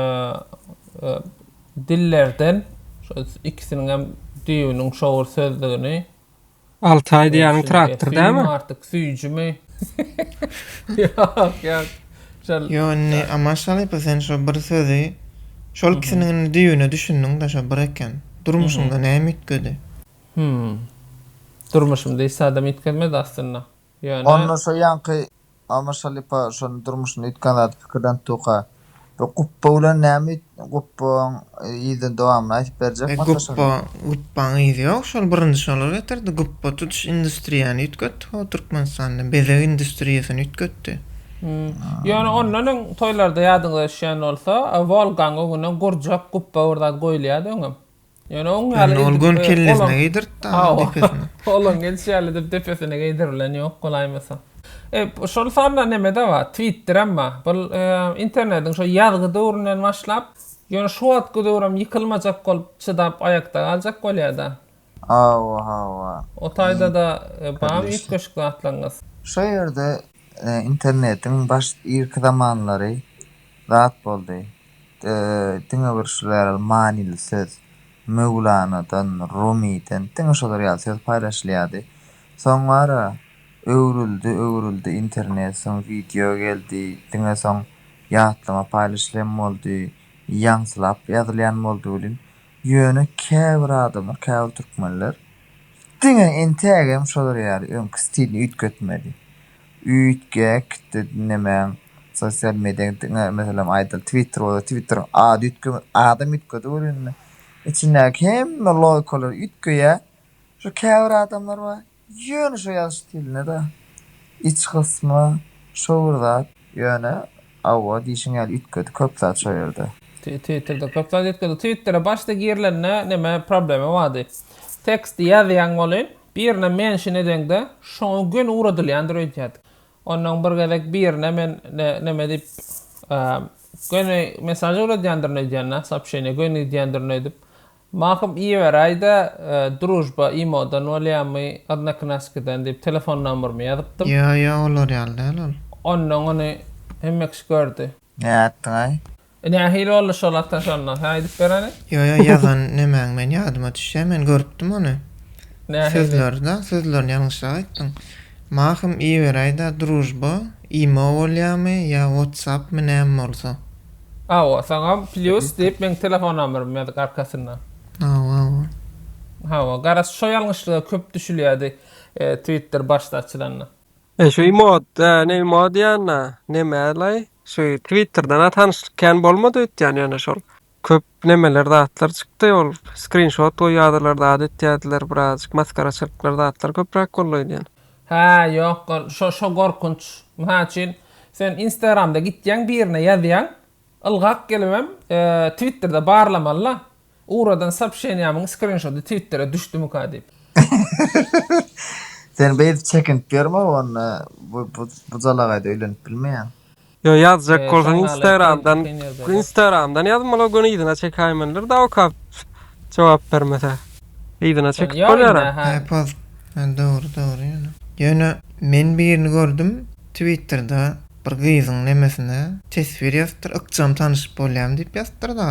dillerden şol ikisiniň hem düýbüniň şowur sözdigini Altaý diýýäniň traktor dämi? Süýümi artyk süýjümi? Ýok ýok. Şol. Ýo indi Amaş halypa sen şo bir sözi şol ikisiniň indi düýbüne düşündiňdä şo bir eken. Durmuşyňda näme üýtgedi? Hümm. Durmuşymda hiç zadam üýtgemedi aslynda. Ýöne. Onda şo ýaňky. Almaz Şalypa şony durmuşynda üýtgän zady pikirlenip durka, bu gupba bilen näme üýt gupbaň yzy dowamyny aýdyp berjek mi ata şony? Gupbaň yzy ýok şol birinji şolar getirdi gupba tutuş industriýany üýtgetdi ho Türkmenistanda bezeg industriýasyny üýtgetdi. Ýöne ondan öň toýlarda ýadyňyza düşýän bolsa Wolgaň öňüne gurjak gupba bir zat goýulýardy öňem. Ýöne oň ýaly edip. Ýöne ol göni kellesin geýdirip dagyň depesine. Olaň gelşi ýaly edip depesine geýdirilen ýok bolaýmasa. E, şol sanda neme-de bar, Twitterem bar. Bu internetiň şo ýazgy döwründen başlap, ýöne şu wagtky döwrem ýykylmajak bolup, çydap aýakda galjak bolýa-da. Hawa, hawa. O taýda-da barmy üýtgeşik zatlaryňyz? Şo ýerde internetiň baş irki zamanlary. zat boldy. Diňe bir şular ýaly manyly söz Möwlanadan, Rumydan, diňe şolar ýaly söz paýlaşylýardy. Soň bar-a, öwrüldi, öwrüldi internet, soň wideo geldi, diňe soň ýatlama paýlaşylýan boldy, ýaňsylap ýazylýan boldy welin, ýöne käbir adamlar, käbir türkmenler diňe entägem şolar ýaly öňki stilini üýtgetmedi. Üýtge, kitde diňlemäň. Sosial mediýaň diňe meselem aýdaly Twitter bolsa Twitteriň ady üýtge adam üýtgedi ol indi. Içindäki hemme logikalary üýtgeýär. Şu käbir adamlar bar ýöne şo ýazyş stilinde-de iç gysmy şo bir zat ýöne awa diýşiň ýaly üýtgedi köp zat şo ýerde. Twitterde köp zat üýtgedi. Twittere başda girilende neme problema bardy. Teksti ýazýaň welin Birine mention edeňde şoňa göni ugradylýandyr öýdýärdik. Onnoň bir gezek birine men neme diýip göni mesaž ugradýandyryny öýdýänä soobşeniýa göni gidýändirini öýdüp Mahym iýiberäýdä družba imodan bolýamy odnoknaskiden diýip telefon nomerymy ýazypdym. Ýo ýo olar ýaly däl ol. Onnoň ony hemme kişi gördi. Näe atdyňaý? E nähili boldy şol atan şonda? Hä aýdyp bereli? Ýo ýo ýazan nemäň men ýadyma düşýä men görüpdim ony. Nähili? Sözlerida sözlerini ýalňyşrak aýtdyň. Mahym iberäýdä družba imo bolýamy ýa wotsappmy näme bolsa. Hawa saňa plyus diýip meň telefon nomerimi ýazyk arkasynda. Hawa hawa. Hawa garaz şo ýalňyşlyga köp düşülýädi twitter başda açylanda. E şu emot, hä, ne emot diýýän-dä, neme-laý, şu Twitterden-ä tanyşlyk kän bolmady öýtýän, ýöne şol köp nemeler, zatlar çykdy, ol skrinşot goýýardylar, zat etýärdiler, birazajyk masgaraçylyklar, zatlar köpräk boldy öýdýän. Hä, ýok, ol, şo, şo gorkunç. Mysal üçin, sen Instagramda gitýäň birine ýazýaň, Ylgap gelibem twitterde barlamalyla uradan sopşeniýamyň skrinşody twittera düşdümikä diýip. Sen beýdip çekinip ýörme onda bu jalagaýda öýlenip bilmeýäň. Ýo ýazjak bolsaň instagramdan instagramdan ýaz molo göni yzyna çekäýmenler dawkap jogap bermese. Yzyna çekip bolýar a. He post dogry dogry ýöne. Ýöne men birini gördüm twitterda Bir gyzyň nemesine teswir ýazypdyr ykjam tanyşyp bolýam diýip ýazypdyr da.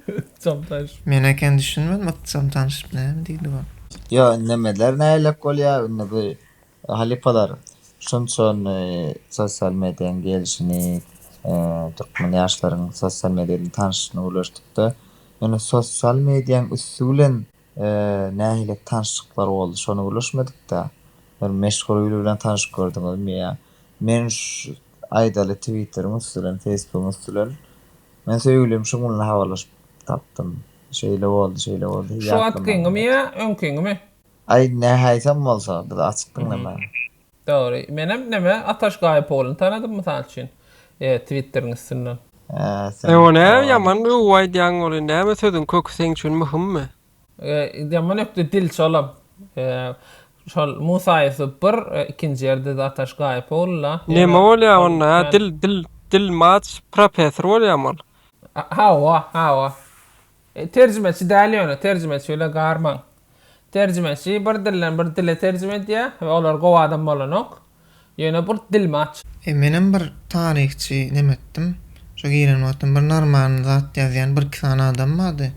Ykjam tanyşyp. Men eken düşünmedim ykjam tanyşyp näme diýdi bu. Ýo nemeler nälelik bolýa indi bu halypalar şunça indi sosial mediýaň gelşini türkmen ýaşlaryň sosial mediýa bilen tanyşyşyny gürleşdikde indi sosial mediýaň üsti bilen Nähili tanşyklar boldy şony gürleşmedikdä. Bir meşhur biri bilen tanyşyp gördüňizmi ýa men aýdaly twitteriň üstülen feýsbugyň üstülen men söýgülim şuň bilen habarlaşyp tapdym şeýle boldy şeýle boldy hiý Şu atkyňymy ýa öňkiňimi. Aý nähäýsem bolsa biz açyk diňlemäge. Dogry. Menem neme Ataş Gaýypoglyny tanadym mysal üçin twitteriň üstünden. E o näme ýaman gowy aýdýaň ony näme sözüň köki seň üçin myhymmy? Ýaman ökde dil şolam. Şol Musa Ýusup bir ikinji ýerde-de Ataş Gaýypogly la. Neme bolýa onda hä dil dil dil maç professor bolýamy ol? Hawa hawa. Terjimeçi däl ýöne terjimeçi bile garmaň. Terjimeçi bir dilden bir dile terjime edýär we olar gowy adam bolanok. Ýöne bur dilmi aç. E menem bir taryhçy neme etdim. Şo giren wagtym bir normalny zat ýazýan bir iki sany adam bardy.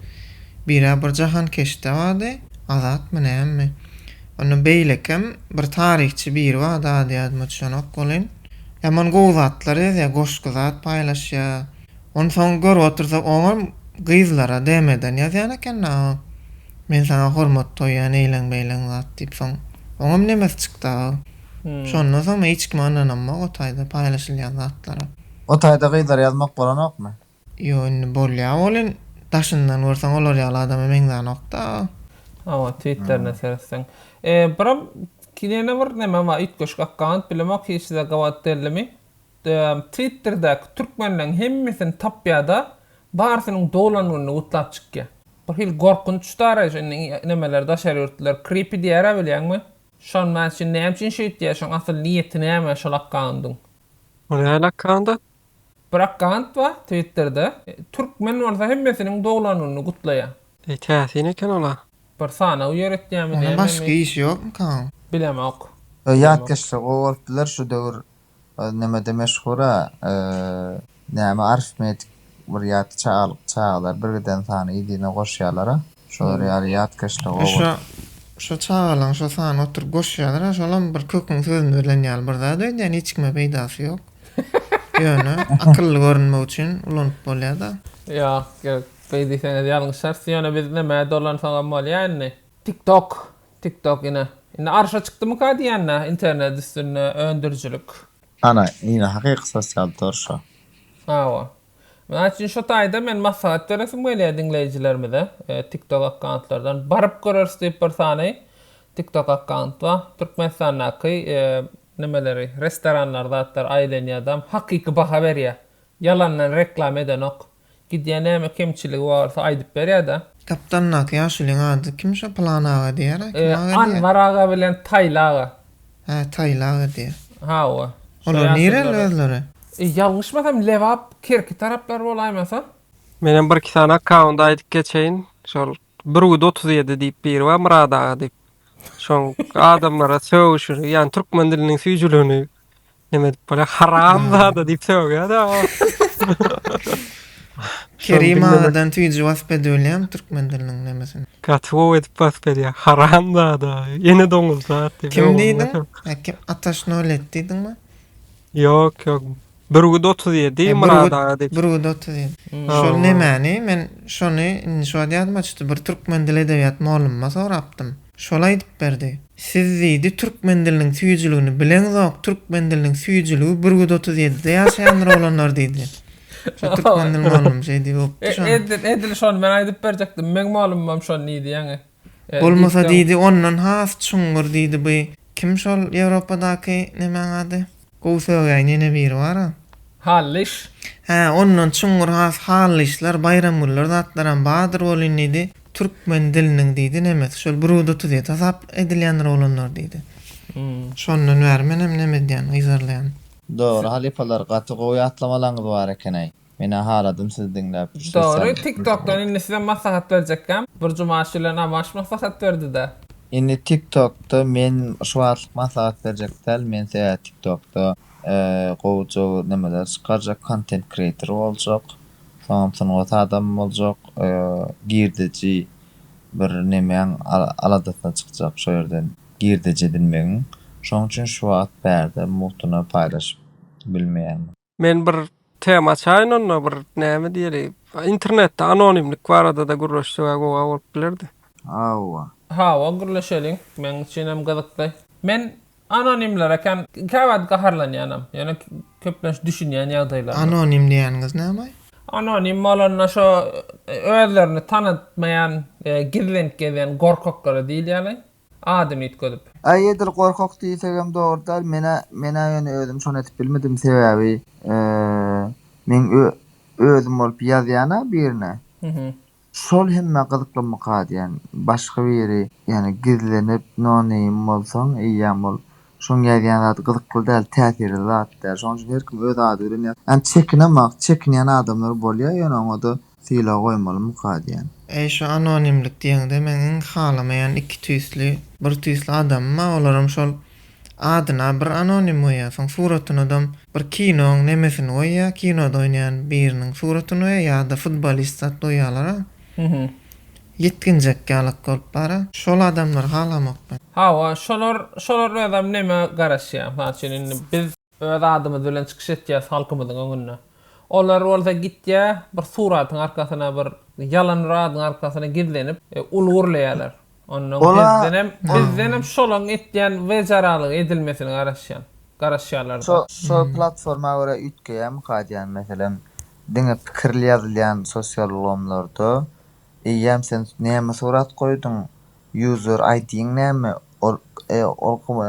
Bira bir jahankeşde bardy. Azatmy nämemi. Onda beýlekem bir taryhçy biri bardy ady ýadyma düşenok welin. Ýaman gowy zatlar ýazýar goşgy zat paýlaşýar. Onsoň görüp otursak oňam gyzlara DMden ýazýan eken da o. Men saňa hormat goýýan eýleň-beýleň zat diýip soň oňam nemesi çykdy aga. Şondan soň men hiç kime ynanamok o taýda paýlaşylýan zatlara. O taýda gyzlara ýazmak bolanokmy? Ýok indi bolýa welin daşyndan görseň olar ýaly adama meňzänokda aga. Hawa twitterine seretseň. Biram ýene bir neme bar üýtgeşik akkaunt bilemok hiç size gabat deldimi. Twitterdäki türkmenleriň hemmesini tapýada barsynyň doglan gününi gutlap çykýa. Bir hili gorkunç daraýyş indi nemeler daşary ýurtlylar creepy diýärä bilýäňmi? Şon men üçin näme üçin şeýtýä şoň asyl niýeti näme şol akkaundyň. O nähili akkaunt? Bir akkaunt bar twitterde türkmen bolsa hemmesiniň doglan gününi gutlaýa. Eý täsin eken ola. Bir sanaw ýöretýämi näme mi? Başga iş ýokmyka? Bilemok. Ýatkeşje gowy bolup biler şu döwür Ol nämede meşhura? Näme arifmetik bir ýat çagalar birgiden sany yzyna goşýalara şolar ýaly ýatkeşlik oba. Şo çagalaň şo sany oturyp goşýalara şolam bir köküň sözüni bilen ýaly bir zat öýdýän hiç kime peýdasy ýok ýöne akylly görünmek üçin ulanyp bolýada. Ýok ýok beýdiseňiz ýalňyşarys ýöne biz näme dolansaňam bolýa indi. Tik tok TikTok ine indi arşa çykdymyka diýende internet üstünde öndürijilik. Ana ine hakyky sosial tor şo. Hawa. Mysal üçin şo taýda men maslahat beresim gelýär diňleýjilerimize. TikTok akkauntlardan baryp göreris diýip bir sany TikTok akkaunt bar. Türkmenistandaky nemeleri restoranlar zatlar aýlanýar dam hakyky baha berýär. Ýalandan reklama edenok. Gidýä näme kemçiligi barsa aýdyp berýäda. Tapdandaky ýaşulyň ady kim şo Pylan aga diýýära kim aga diýýä. Anwar aga bilen Taýly aga. Hä Taýly aga diýýä. Hawa. Olar nireli özleri? Ýalňyşmasam Lebap Kerki taraplar bolaýmasa. Menem bir iki sany akkaunt aýdyp geçeýin şol Brud otuz ýedi diýip biri bar Myrat aga diýip. Şoň adamlara sögüşini, ýagny türkmen diliniň süýjüligini neme edip bolýar? Haram zada diýip sögýär-ä. Kerim agadan süýji wasp edibilýärmi türkmen diliniň nemesini? Gaty gowy edip wasp edýär. Haram zada, ene doňuz zat diýip. Kim diýdiň? Ataş Nolet diýdiňmi? Ýok, ýok. Bürgüt otuz ýedi, Myrat aga diýip. Bürgüt otuz ýedi. Şol nemäni, men şony indi şu wagt ýadyma çytdy, bir türkmen dil edebiýat mollumma sorapdym. Şol aýdyp berdi. Siz diýdi, türkmen diliniň süýjüligini bileňzok, türkmen diliniň süýjüligi bürgüt otuz ýedide ýaşaýandyr oglanlar diýdi. Şo türkmen dil mollum şeýdibopdy şony. Edil şony men aýdyp berjekdim, meň mollumam şony diýdi ýaňy. Bolmasa diýdi, ondan has çuňňur diýdi bu. Kim şol Ýewropadaky nemäň ady? Gowy sögäýen ýene biri bar-a. Hallyş. Hä, ondan çuňňur has Hallyşlar, Baýramgüller zatlaram bardyr welin diýdi, türkmen diliniň diýdi nemes, şol Brudotuzyýet hasap edilýändir oglanlar diýdi. Şondan bäri menem nemedýän, gyzarlaýan. Dogry halypalar gaty gowy ýatlamalaryňyz bar ekenäý. Menä haladym sizi diňläp şu ses Dogry tik tokdan indi size maslahat berjekkäm bir jumaş bilen amaş maslahat berdida. Indi tik tokda men şu wagtlyk maslahat berjek däl men size tik tokda gowuja nemeler çykarjak kontent kreator boljak soňam sungat adamy boljak girdeji bir nemäň aladasyna çykjak şo ýerden girdeji edinmegiň şoň üçin şu wagt bärde mugtuna paýlaşyp bilmeýärmen. Men bir tema açaýyn onda bir näme diýeli. Internetde anonimlik barada-da gürleşsegä gowa bolup bilerdi. Hawa. Hawa gürleşeliň. Meň üçinem gyzykly. Men anonimlere kän käwagt gaharlanýanam. Ýöne köplenç düşünýän ýagdaýlaryna. Anonim diýýäniňiz näme? Anonim bolanda şo özlerini tanatmaýan, gizlenip gezýän gorkaklara diýilýär. adyny üýtgedip. Aý edil gorkak diýsegem dogry däl menä menä ýöne özüm şony edip bilmedim sebäbi meň ö özüm bolup ýazýana birine şol hemmä gyzyklanmyka diýen başga biri ýöne gizlenip no name bolsaň eýýäm ol şoň ýazýan zady gyzykly däl täsirli zat däl şoň üçin her kim öz ady bilen ýaz ýöne çekinemak çekinýän adamlar bolýa ýöne oňada Sylag goýmalymyka diýen. Äý şu anonimlik diýeňde meň iň halamaýan iki tüýsli, bir tüýsli adamym-a olaram şol adyna bir anonim goýýa soň suratynadam bir kinoň nemesini goýýa kinoda oýnaýan biriniň suratyny goýýa ýada futbolist zat goýýalar-a ýetginjek ýalak bolup bara şol adamlary halamok men. Hawa şolar şolar özem neme garaşýa mysal üçin indi biz. Öz adymyz bilen çykyş etýäs halkymyzyň öňünde. Olar bolsa gitýä bir suratyň arkasyna bir ýalan bir adyň arkasyna gizlenip uly gürleýäler. Ondan bizdenem bizdenem şolaň etýän wejaralygy edilmesini garaşýan garaşýalarda. Şol platforma görä üýtgeýämi kadýan meselem diňe pikirli ýazylýan sosial ulgamlarda Eýýäm sen näme surat goýduň user ID-ň näme ol ol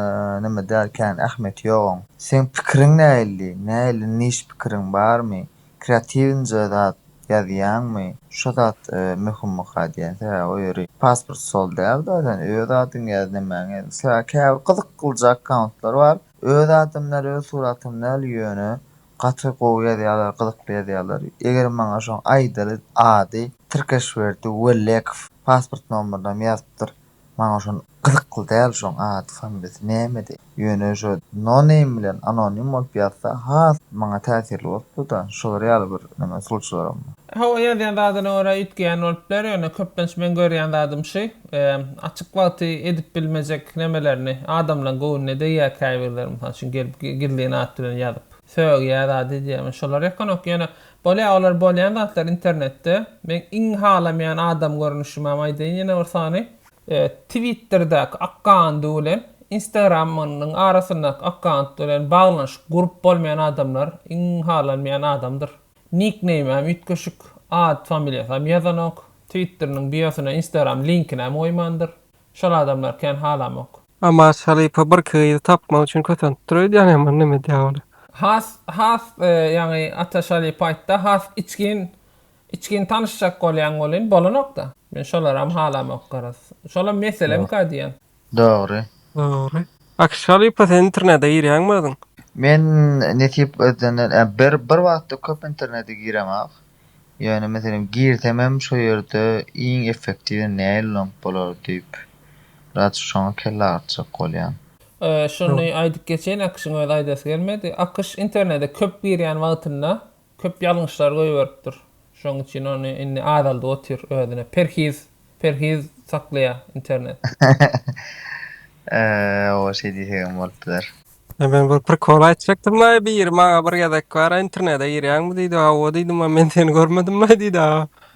näme däl kän ähmiýeti ýok oň. Seň pikiriň näilli näilli niş pikiriň barmy kreatiwnje zat ýazýaňmy şo zat möhümmyka diýen sä o ýeri pasport sol däl zaten öz adyňy ýaz nämäňi ýaz mysla käbir gyzyk gylyja akkauntlar bar öz adym däl öz suratym däl ýöne Gaty gowy ýazýarlar gyzykly ýazýarlar eger maňa şoň aýdaly ady Tirkeşberdi Wellekow pasport nomerynam ýazypdyr maňa şon gyzykly däl şoň ady familiýasy nämedi ýöne şo no name bilen anonim bolup ýazsa has maňa täsirli bolupdyda şolar ýaly bir neme usulçylaram. Hawa ýazýan zadyna görä üýtgeýän bolup biler ýöne köplenç men görýän zadym şy. Açyk wagty edip bilmejek nemelerini adamlaň göwnüne degýär käbirleri mysal üçin gelip gizlin at bilen ýazyp sögýär zat edýär men şolar ýakanok ýöne bolýar olar bolýan zatlar internetde meň iň halameýän adam görnüşimem aýdaýyn ýene bir sany twitterdäki akkaundy bilen instagramynyň arasyndaky akkaundy bilen baglanyşyk gurup bolmaýan adamlar iň halanmaýan adamdyr. Nikneýmäm üýtgeşik, at, familiýasam ýazanok, twitteriniň biosyna instagram linkinem goýmandyr. Şol adamlary kän halamok. Namaz Şarife bir gyzy tapmak üçin kösentdir öýdýän ýaman neme edýä ola. Has has ýaňy Ata Şarife aýtda has içgin içgin tanyşjak bolýaň welin bolanokda. Men şolaram halamok garaz. Şolam meselem ka diýýän. Dogry. Dogry. Akyş halypa sen internede girýäňmi özüň? Men nesip özünden ä bir bir wagtda köp internede giremok. Ýöne meselem girsem hem şo ýerde iň effektiwini näe ulanyp bolar diýip biraz şoňa kelle agyrtjak bolýan. Şuny aýdyp geçeýin Akyşyň özi aýdasy gelmedi. Akyş internede köp girýän wagtynda Köp ýalňyşlar goýberipdir. Şoň üçin ony indi azaldyp otyr özüne perhiz perhiz saklaýar internet. Hawa şeý diýsegem bolup biler. Men bir prikol aýtjakdymlaý biri maňa bir gezek bara internede girýäňmi diýdi hawa diýdim a men seni görmedimlaý diýdi a.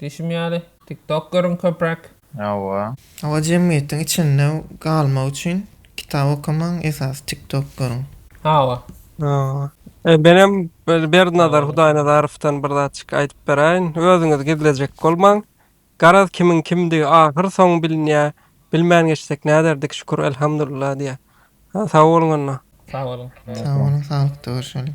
Diýşim ýaly, TikTok görüň köpräk. Hawa. Hawa jemgyýetiň içinde galmak üçin kitap okamaň esasy TikTok görüň. Hawa. Hawa. E menem Berdinazar Hudaýnazarowdan bir zatjyk aýdyp beräýin. Özüňiz gizlejek bolmaň. Garaz kimiň kimdigi ahyr soňy bilinýä. Bilmän geçsek näderdik şükür Elhamdulillah diýä. Sag boluň onda. Sag boluň. Sag boluň saglykda görşeliň.